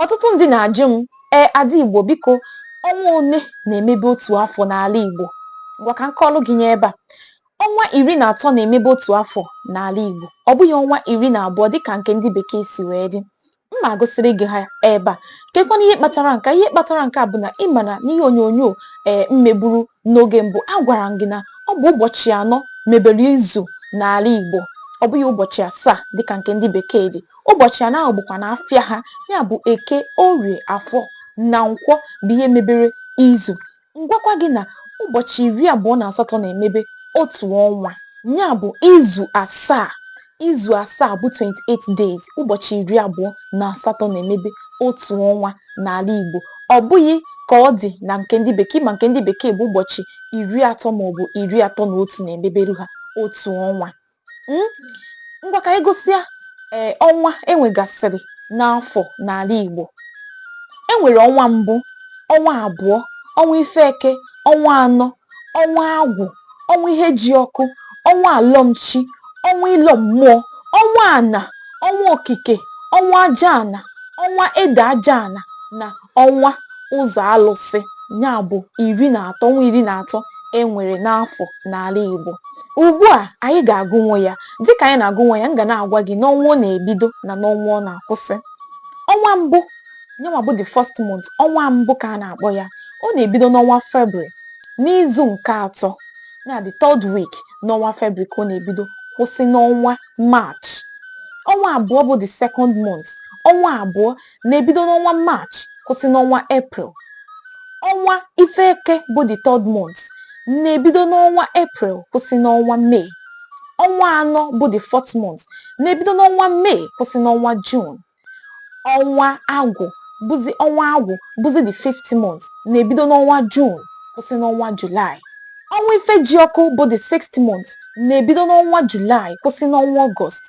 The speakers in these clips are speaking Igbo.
ọtụtụ ndị na-ajụ m ee ada igbo biko ọnwa one na-emebe otu afọ n'ala igbo ngwa ka m kọọlụ gị nya ebe a ọnwa iri na atọ na-emebe otu afọ n'ala igbo ọ bụghị ọnwa iri na abụọ dịka nke ndị bekee si wee dị m ma-agụsịrị gị ha ebe a kekwana ihe kpatara nke a ihe kpatara nke a bụ na ị ma na n'ihe onyonyo ee m meburu n'oge mbụ agwara m gị na ọ bụ ụbọchị anọ mebere izu n'ala igbo ọ bụghị ụbọchị asaa dịka nke ndị bekee dị ụbọchị anọ ahụ bụkwa na afịa ha ya bụ eke orie afọ na nkwọ bụ ihe mebere izu m gwakwa gị na ụbọchị iri abụọ na asatọ na-emebe otu ọnwa ya bụ izu asaa izu asaa bụ 28 days ụbọchị iri abụọ na asatọ na-emebe otu ọnwa n'ala Igbo ọ bụghị ka ọ dị na nke ndị bekee ma nke ndị bekee bụ ụbọchị iri atọ maọbụ iri atọ na otu na-emeberu ha otu ọnwa Hmm? ngwa ka anyị gụsịa ee ọnwa e nwegasịrị n'afọ n'ala Igbo e nwere ọnwa mbụ ọnwa abụọ ọnwa ife eke ọnwa anọ ọnwa agwụ ọnwa ihe ji ọkụ ọnwa alọmchi ọnwa ịlọ mmụọ ọnwa ana ọnwa okike ọnwa aja ana ọnwa ede aja ana na ọnwa ụzọ alụsị ya bụ iri na atọ ọnwa iri na atọ e nwere n'afọ n'ala Igbo ugbu a anyị ga-agụnwo ya dịka anyị na-agụnwo ya m ga na-agwa gị n'ọnwa ọ na-ebido na n'ọnwa ọ na-akwụsị ọnwa mbụ nyanwa bụ the first month ọnwa mbụ ka a na-akpọ ya ọ na-ebido n'ọnwa February n'izu nke atọ na the third week n'ọnwa February ka ọ na-ebido kwụsị n'ọnwa March ọnwa abụọ bụ the second month ọnwa abụọ na-ebido n'ọnwa March kwụsị n'ọnwa April. Ọnwa ife eke bụ the third month na-ebido n'ọnwa April kwụsị n'ọnwa May. Ọnwa anọ bụ the fourth month na-ebido n'ọnwa May kwụsị n'ọnwa June. Ọnwa agwụ bụzi ọnwa agwụ bụzi the fifth month na-ebido n'ọnwa June kwụsị n'ọnwa July. Ọnwa ife ji ọkụ bụ the sixth month na-ebido n'ọnwa July kwụsị n'ọnwa Ọgọst.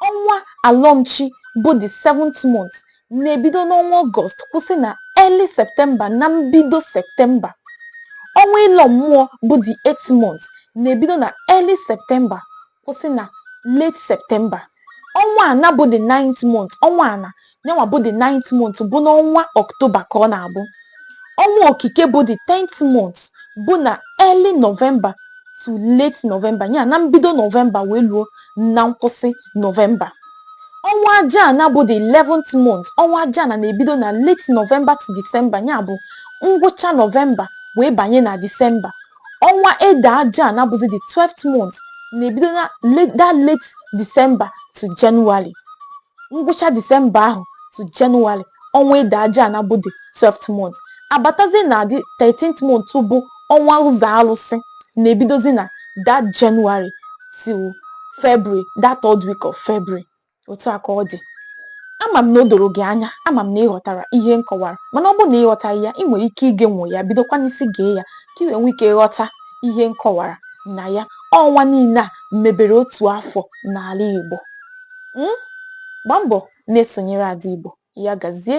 Ọnwa alọmchi bụ the seventh month na-ebido n'ọnwa Ọgọst kwụsị na early Septemba na mbido Septemba. Ọnwa ịlọ mmụọ bụ the eighth month na-ebido na early Septemba kwụsị na late Septemba. Ọnwa ana bụ the ninth month, ọnwa ana, yanwa bụ the ninth month bụ n'ọnwa ọktoba ka ọ na-abụ ọnwa okike bụ the tenth month bụ na early november to late november ya na mbido november wee luo na nkwụsị november ọnwa ajaana bụ the eleventh month ọnwa ajaana na-ebido na late november to december ya bụ ngwụcha november wee banye na december ọnwa ede ajaana bụzi the 12th month na-ebido na late December to January ngwụcha December ahụ to January ọnwa Ede Ajana bụ the 12th month abatazie na the 13th month bụ ọnwa Ụzọ Alụsị na-ebidozi na that January till February that third week of February otu a ka ọ dị ama m na o doro gị anya ama m na ị ghọtara ihe m kọwara mana ọ bụrụ na ị ghọtaghị ya ị nwere ike igenwo ya bidokwa n'isi gee ya ka ị wee nwee ike ghọta ihe m kọwara na ya ọnwa niile a mebere otu afọ n'ala Igbo um gbaa mbọ na-esonyere Ada Igbo. Ya gazie.